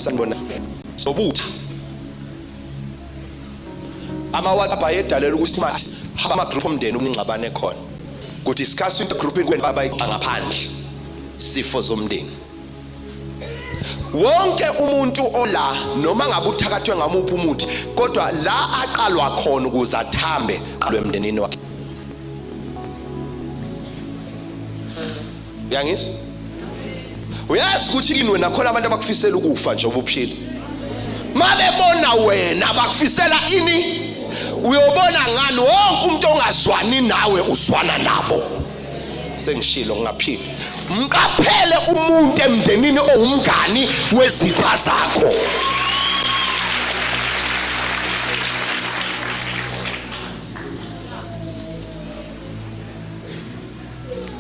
sanibona sobutha ama WhatsApp ayedalela ukuthi manje ama group omndeni umngxabane khona ku discuss into group inkweni baba ixangaphandle sifo zomndeni wonke umuntu ola noma ngabe uthakathwe ngamuphi umuthi kodwa la aqalwa khona ukuze athambe qalwe emndenini wakhe uyangizwa uyazi ukuthi kini wena khona abantu abakufisela ukufa nje ubuphila mabebona wena bakufisela ini uyobona ngani wonke umuntu ongazwani nawe uzwana nabo sengishilo ngingaphili mqaphele umuntu emndenini owumngani wezitha zakho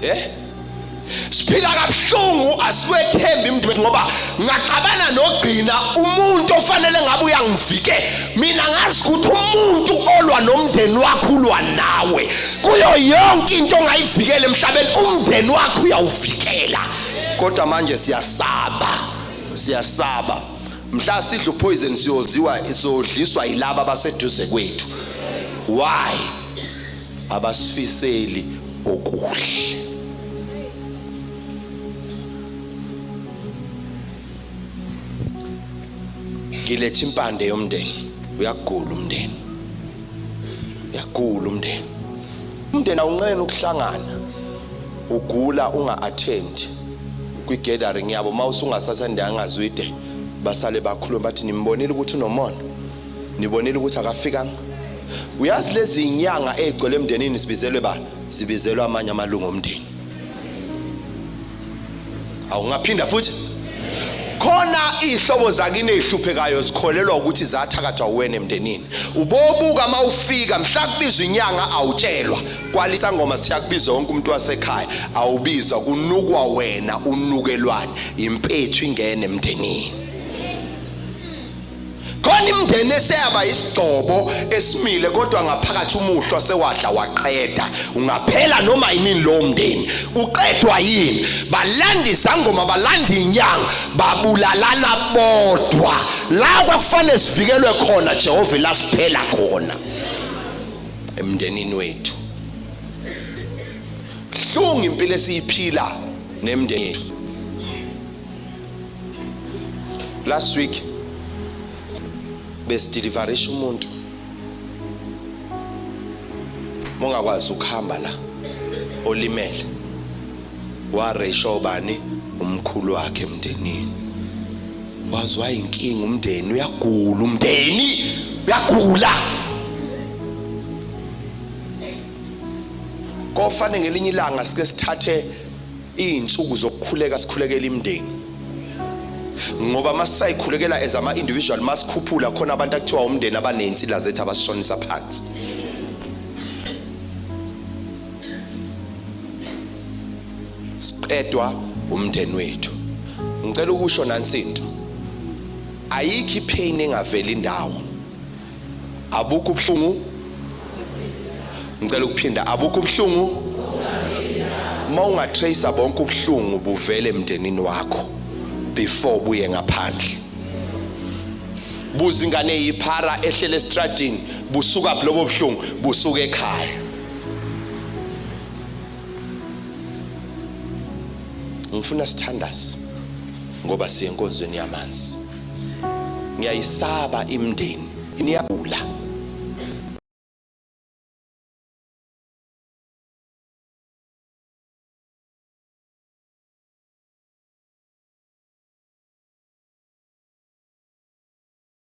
eh siphila kabuhlungu asikwethembi mndibethu ngoba ngacabana nogcina umuntu ofanele ngabe uyangivike mina ngazi ukuthi umuntu olwa nomndeni wakho ulwa nawe kuyo yonke into ongayivikela emhlabeni umndeni wakho uyawuvikela kodwa manje siyasaba siyasaba mhla sidla upoison siyoziwa siyodliswa yilaba abaseduze kwethu why abasifiseli okuhle ngilethe impande yomndeni uyagula umndeni uyagula umndeni umndeni awunqeni ukuhlangana ugula unga-attend kwi-gathering yabo uma usungasathandanga zwide basale bakhuluma bathi nimbonile ukuthi unomona nibonile ukuthi akafikanga uyazi lezi inyanga ezigcwele emndenini sibizelwe ba sibizelwe amanye amalungu omndeni awungaphinda futhi khona ihlobo zakini ezihluphekayo zikholelwa ukuthi zathakathwa uwena emndenini ubobuka uma ufika mhla kubizwa inyanga awutshelwa kwalisa ngoma sithiya kubizwa wonke umuntu wasekhaya awubizwa kunukwa wena unukelwane impethu ingene emndenini khona imndeni eseyaba isigcobo esimile kodwa ngaphakathi umuhlwa sewadla waqeda ungaphela noma yini lo mndeni uqedwa yini balanda izangoma balanda inyanga babulalana bodwa la kwakufanele sivikelwe khona Jehova lasiphela khona emndenini wethu hlungu impilo esiyiphila nemndeni yethu last week besideliverisha umuntu mongakwazi ukuhamba la olimele waresho bani umkhulu wakhe emndenini wazwa inkinga umndeni uyagula umndeni uyagula kofane ngelinye ilanga sike sithathe Izinsuku zokukhuleka sikhulekela imndeni. Ngoba masisayikhulekela as ama individual masikhuphula khona abantu akuthiwa umndeni abanezinsila zethu abasishonisa phansi. Siqedwa umndeni wethu. Ngicela ukusho nansinto. Ayikho ipain engaveli indawo. Abukho ubuhlungu. Ngicela ukuphinda abukho ubuhlungu. Uma ungatracer bonke ubuhlungu buvele emndenini wakho before buye ngaphandle. Buza ingane yiphara ehlele estradini busuka lobo buhlungu busuka ekhaya. Ngifuna sithandaze ngoba siyenkonzweni yamanzi. ngiyayisaba imndeni niyabula